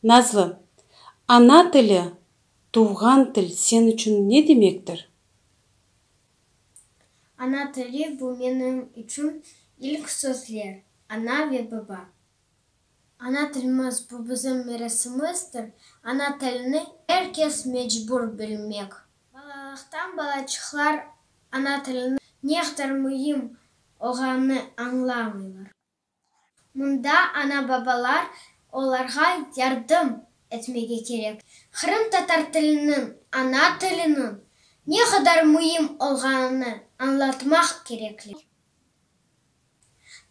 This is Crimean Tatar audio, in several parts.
Nazlı, Ana tili, tuvğan til sen içün ne demektir? Ana tili, bu menim içün ilk sözler, ana ve baba. Ana tilimiz, bu bizim miresimizdir. Ana tilini er kes mecbur bilmek. Balalıqtan balaçıqlar ana tiliniñ neqder müim olğanını añlamıylar. Mında ana-babalar olarğa yardım etmege kerek. Qırımtatar tiliniñ, ana tiliniñ ne qadar müim olğanını añlatmaq kerekli.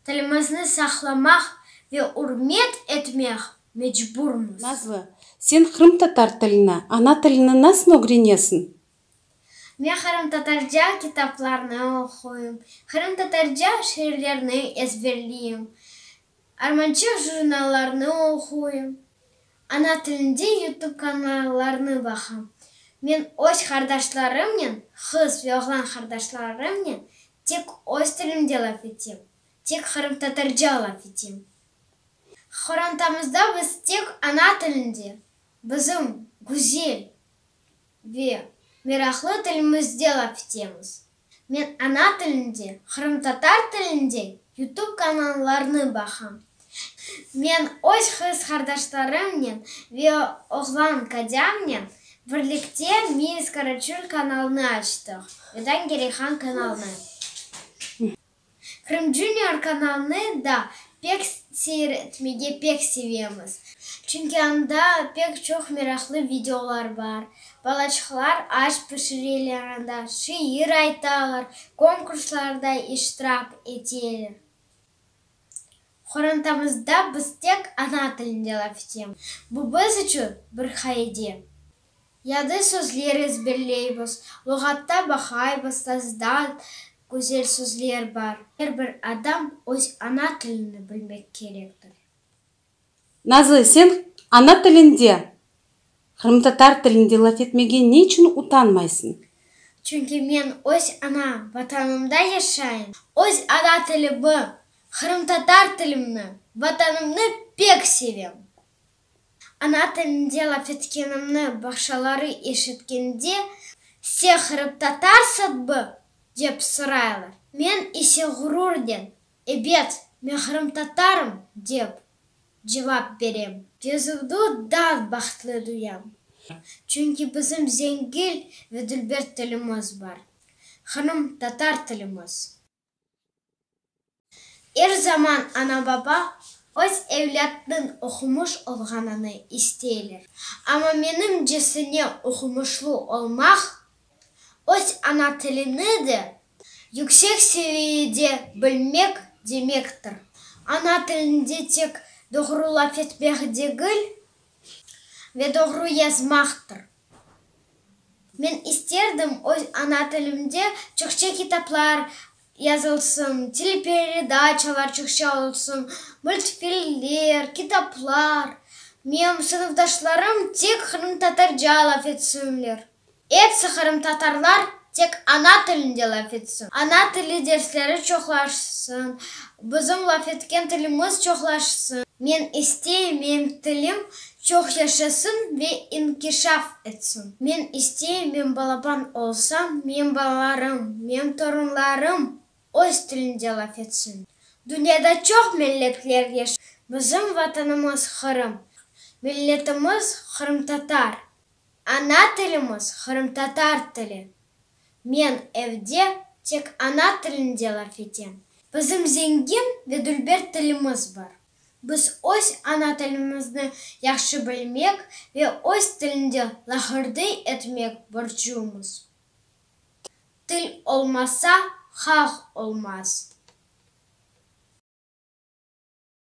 Tilimizni saqlamaq ve ürmet etmeq mecburmız. Nazlı, sen qırımtatar tilini, ana tilini nasıl ögrenesiñ? Men qırımtatarca kitaplarnı oquyım, qırımtatarca şiirlerni ezberleyim, armançıq jurnallarnı oquyım, ana tilinde YouTube kanallarnı baqam. Men öz qardaşlarımnen, qız ve oğlan qardaşlarımnen tek öz tilimde laf etem, tek qırımtatarca laf etem. Qorantamızda biz tek ana tilinde, bizim güzel. Ve meraqlı tilimizde laf etemiz. Men ana tilinde, qırımtatar tilinde yutub kanallarnı baqam. Men öz qız qardaşlarımnen ve oğlan qocamnen birlikte Miis Karaçul kanalını açtıq, Vedan Gereyhan kanalını. Krım Junior kanalını da pek seyretmege pek sevemiz, çünki anda pek çoq meraqlı videolar bar, balaçıqlar aş pişireler anda, şiir aytalar, konkurslarda iştirak eteler. Qorantamızda biz tek ana tilinde laf etemiz, bu biz içün bir qaide. Yadı sözler ezberleybiz. Luğatta baqaybız, tazdan güzel sözler bar. Er bir adam öz ana tilini bilmek kerektir. Nazlı, sen ana tilinde, qırımtatar tilinde laf etmege ne içün utanmaysıñ? Çünki men öz ana Vatanımda yaşayım. Öz ana tilimi, qırımtatar tilimni, Vatanımnı pek sevem. Ana tilinde laf etkenimni baqşaları eşitkende, Sen qırımtatarsıñbı? dep soraylar. Men ise ğururden, Ebet, men qırımtatarım, dep cevap berem. Yazuvdı dav bahtlı duyam. Çünki bizim zengil ve dülber tilimiz bar, qırımtatar tilimiz. Er zaman ana-baba öz evlâtnıñ oqumış olğanını isteyler. Amma menimcesine oqumışlı olmaq, öz ana tilini de yüksek seviyede bilmek demektir. Ana tilinde tek doğru laf etmek degil ve doğru yazmaqtır. Men isterdim, öz ana tilimde Çukçe kitaplar yazılsın, teleperedaçalar Çukçe olsun, multfilmler, kitaplar. Menim sınıfdaşlarım tek qırımtatarca laf etsinler. Epsi qırımtatarlar Tek ana tilinde laf etsin. Ana tili dersleri çoqlaşsın. Bizim laf etken tilimiz çoqlaşsın. Men isteyim, mem tilim çoq yaşasın ve inkişaf etsin. Men isteyim, men balaban olsam, mem balalarım, mem torunlarım öz tilinde laf etsin. Dünyada çoq milletler yaşay. Bizim Vatanımız Qırım. Milletimiz qırımtatar. Ana tilimiz qırımtatar tili. Men evde tek ana tilinde laf etem. Bizim zengin ve dülber tilimiz bar. Biz öz ana tilimizni yahşı bilmek ve öz tilinde laqırdıy etmek borcumız. Til olmasa, halq olmaz.